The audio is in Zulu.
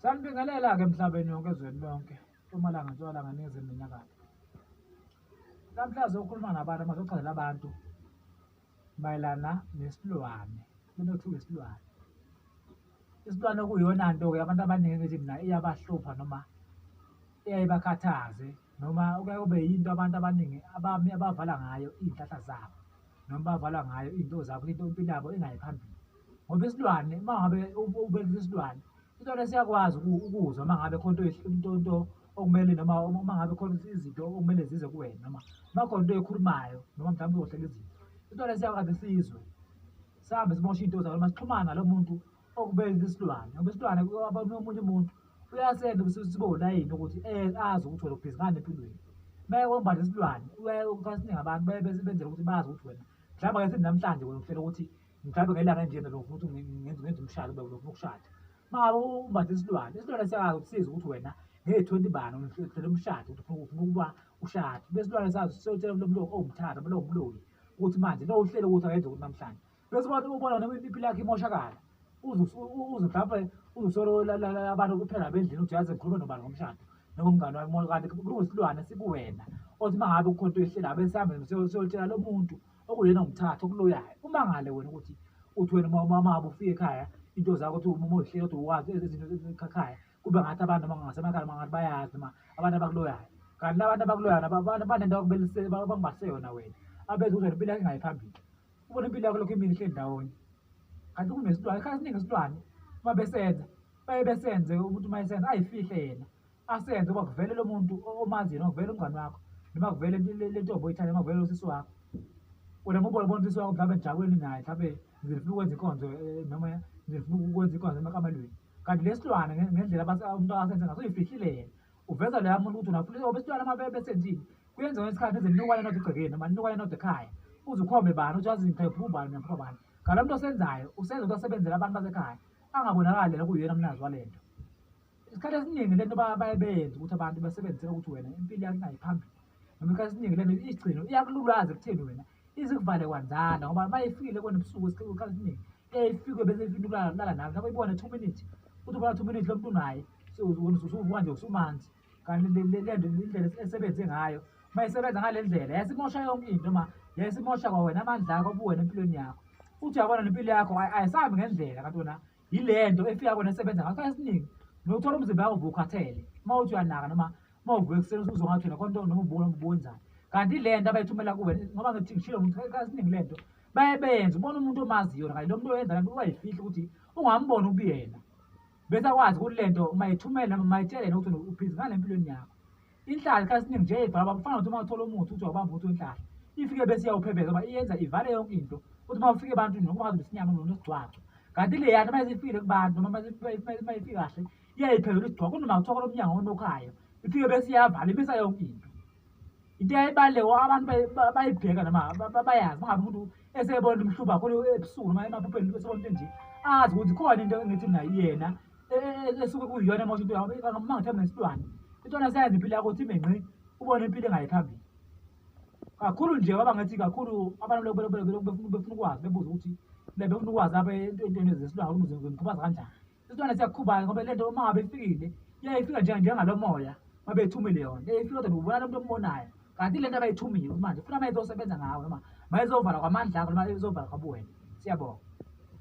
Sanibingelela-ke emhlabeni yonke ezweni lonke, Mpumalanga, Ntshonalanga, Ningizimu neNyakatho. Namhlanje sokhuluma nabantu amazochazela abantu mayelana nesilwane, into okuthiwa isilwane. Isilwane okuyiyona nto-ke abantu abaningi ngithi mina iyabahlupha noma iyaye ibakhathaze noma kuyaye kube yinto abantu abaningi abami abavala ngayo iy'nhlahla zabo noma bavala ngayo iy'nto zabo into impilo yabo ingayi phambili. ngoba isilwane uma ngabe ubelisa isilwane isilwane siyakwazi ukuzwa uma ngabe khona into into okumele noma uma ngabe khona izinto okumele zize kuwena noma uma khona into ekhulumayo noma mhlawumbe uzohlela izinto isilwane siyakwazi sizwe sihambe simoshe iy'nto zakho noma sixhumane nalo muntu okubelisa isilwane ngoba isilwane omunye umuntu uyasenza sibe ulayini ukuthi eh, azi ukuthi wena ubhizinani empilweni uma ekombatha isilwane uyaye ukukhasinye ngabantu baye benzela ukuthi bazi ukuthi wena mhlawumbe ke sithi namhlanje wena uhlela ukuthi mhlawumbe ngelanga enjena lo futhi ngenza ngenza umshado baba lo ukushada makabe umbathe isilwane isilwane siyakazi ukusiza ukuthi wena ngeyethonti bani uhlele umshado ukuthi ufuna ufuna ukuba ushade besilwane sazi siyotshela lo muntu owumthatha lo umloli ukuthi manje lo uhlele ukuthi akenze ukuthi namhlanje bese abantu ubona noma impilo yakhe imoshakala uze uze mhlawumbe uzusolo abantu kuphela bendlini ukuthi yazi ngikhulume nobani ngomshado noma umngane wami kanti kulungisilwane sikuwena othi uma ngabe ukhona into ehlelayo bese sihambe siyotshela lo muntu okuyena ngumthatha okuloyayo umangale wena ukuthi uthi wena mamabo ufike ekhaya into zakho ukuthi uma uzihleka ukuthi uwazi ezinto ezikhaya kube ngathi abantu noma ngasemakhaya mangathi bayazi noma abantu abakuloyayo kanti labantu abakuloyayo abantu banento bangibase yona wena abeze ukuthi impilo yakho ingayi phambili ubona impilo yakho lokho imini ihleli ndawonye kanti kunesilwane khathi siningi isilwane uma besenza baye besenze umuntu uma esenza ayifihle yena asenze uba kuvele lo muntu omazi yena kuvele umngani wakho noma kuvele le ntombo oyithanda noma kuvele usisi wakho wena ngoba ubona usisi wakho mhlawumbe njakweli naye mhlawumbe ngifuna ukwenza inkonzo eh, noma ngifuna ukwenza inkonzo emakamelweni kanti lesilwane ngendlela umuntu akasenze ngaso uyifihlile yena uveza leya muntu ukuthi unafuna obesilwane uma besenzile kuyenzeka ngesikhathi eze ninokwane nodwa egcekeni noma ninokwane nodwa ekhaya uze ukhombe bani ukuthi wazi ngiphe ubani nempho bani ngalo muntu osenzayo usenza ukuthi asebenzele abantu basekhaya angabonakali lena kuyena mnazi wale nto isikhathi esiningi lento baye beyenza ukuthi abantu basebenzisela ukuthi wena impilo yakho inayi phambili noma isikhathi esiningi lento igcino iyakululaza ekutheni wena izikuvale kwanzana ngoba uma ifikile kona ebusuku isikhathi esiningi eyifike bese ifuna ukulala nawe lapho ibone two minutes uthi ubona two minutes lo muntu unaye usuvuka nje usumanzi kanti lento indlela esebenze ngayo uma isebenza ngale ndlela yasimosha yonke into ma yasimosha kwawena amandla akho obuwena empilweni yakho uthi uyabona nempilo yakho ayisahambi ngendlela kanti wena yilento efika kona esebenza ngakho esiningi nokuthola umzimba yakho vukhathele uma uthi uyanaka noma uma uvuka ekuseni usuze ngathi wena konto noma ubuka noma ubuwenzani kanti le nto abayithumela kuwe ngoba ngithi ngishilo muntu kasiningi le nto baye benze ubona umuntu omazi yona kanye lo muntu oyenza le nto ubayifihla ukuthi ungamboni ubuyena bese akwazi ukuthi le nto uma yithumela noma mayitshele yena ukuthi uphizi ngale empilweni yakho inhlahla isikhathi esiningi nje ibhaba kufana nokuthi uma uthola umuthi uthi wabamba ukuthi wenhlahla ifike bese iyawuphebeza uba iyenza ivale yonke into uthi uma ufike ebantwini noma ungazi besinyama nonesigcwaco kanti leyana uma isifile kubantu noma uma ifike kahle iyayiphezela isigcwako kunoma kuthiwa kolomnyango onokhayo ifike bese iyavala imisa yonke into into eyayibaluleko abantu bayibheka noma bayazi mangabe umuntu esebona umhluba khona ebusuku noma emaphupheni esebona into enje azi ukuthi khona into engithi mna yena esuke kuyiyona mosha into yakho kangabe uma ngithembe ngesilwane intwana seyenza impilo yakho uthi menqi ubone impilo engayiphambili kakhulu nje baba ngathi kakhulu abantu befuna ukwazi bebuza ukuthi befuna ukwazi abe entweni zesilwane ukuthi ngimkhubaza kanjani isitwana siyakukhubala ngoba le nto uma ngabe ifikile iyayifika njengalo moya uma beyithumile yona eyifika kodwa ubona lo muntu ombonayo kanti le nto abayithumile ukuthi manje funa uma izosebenza ngawo noma mayizovala kwamandla akho noma izovala kwabuwena siyabonga